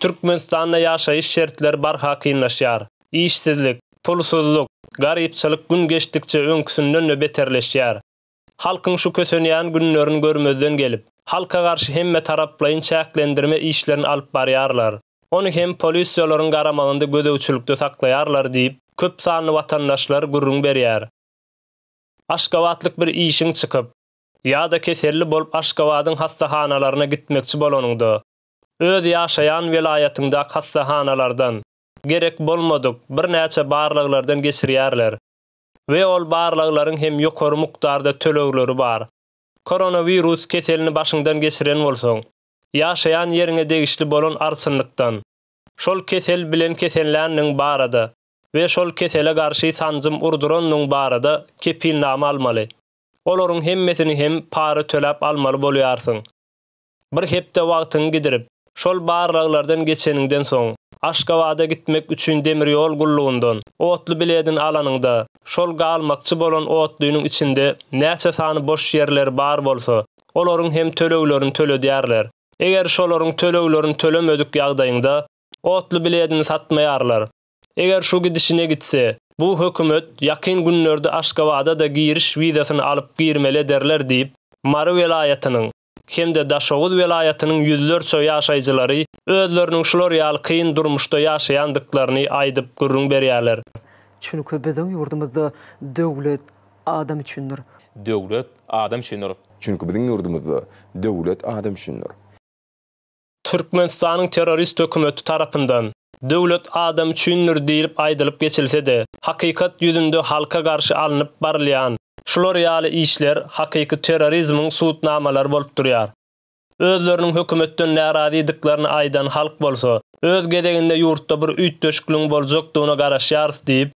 Türkmenistanda ýaşaýyş şertleri barha kynlaşýar. Işsizlik, pulsuzlyk, garypçylyk gün geçdikçe öňküsinden-de beterleşýär. Halkyň şu kösenýän günlerini görmezden gelip, halka garşy hemmetaraplaýyn çäklendirme işlerini alyp barýarlar. Ony hem polisiýalaryň garamagynda gözegçilikde saklaýarlar diýip, köp sanly watandaşlar gürrüň berýär. Aşgabatlyk bir işiň çykyp, ýa-da keselli bolup Aşgabadyň hassahanalaryna gitmekçi bolanyňda, öz ýaşaýan welaýatyňdaky hassahanalardan, gerek bolmadyk, birnäçe barlaglardan geçirýärler we ol barlaglaryň hem ýokary mukdarda tölegleri bar. Koronawirus keselini başyňdan geçiren bolsaň, ýaşaýan ýeriňe degişli bolan arçynlykdan, şol kesel bilen kesenländigiň barada we şol kesele garşy sanjym urdurandygyň barada kepilnama almaly. Olaryň hemmesini hem para töläp almaly bolýarsyň. Bir hepde wagtyňy gidirip, şol barlaglardan geçeniňden soň, Aşgabada gitmek üçin demir ýol gullugyndan otly biledini alanyňda, şol galmakçy bolan otlynyň içinde näçe sany boş ýerleri bar bolsa, olaryň hem töleglerini töledýärler. Eger şolaryň töleglerini tölemedik ýagdaýyňda, otly biledini satmaýarlar. Eger şu gidişine gitse, bu hökümet ýakyn günlerde Aşgabada-da giriş wizasyny alyp girmeli ederler diýip, Mary welaýatynyň hem-de Daşoguz welaýatynyň ýüzlerçe ýaşaýjylary özleriniň şular ýaly kyn durmuşda ýaşaýandyklaryny aýdyp gürrüň berýärler. Çünki biziň ýurdumyzda döwlet adam üçindir. Döwlet adam üçindir. Çünki biziň ýurdumyzda döwlet adam üçindir. Türkmenistanyň terrorist hökümeti tarapyndan Döwlet adam üçindir diýlip aýdylyp geçilse-de, hakykat ýüzünde halka garşy alnyp barylýan şular ýaly işler hakyky terrorizmiň subutnamalary bolup durýar. Özleriniň hökümetden närazydyklaryny aýdan halk bolsa, öz gezeginde ýurtda bir üýtgeşikligiň boljakdygyna garaşýarys diýip,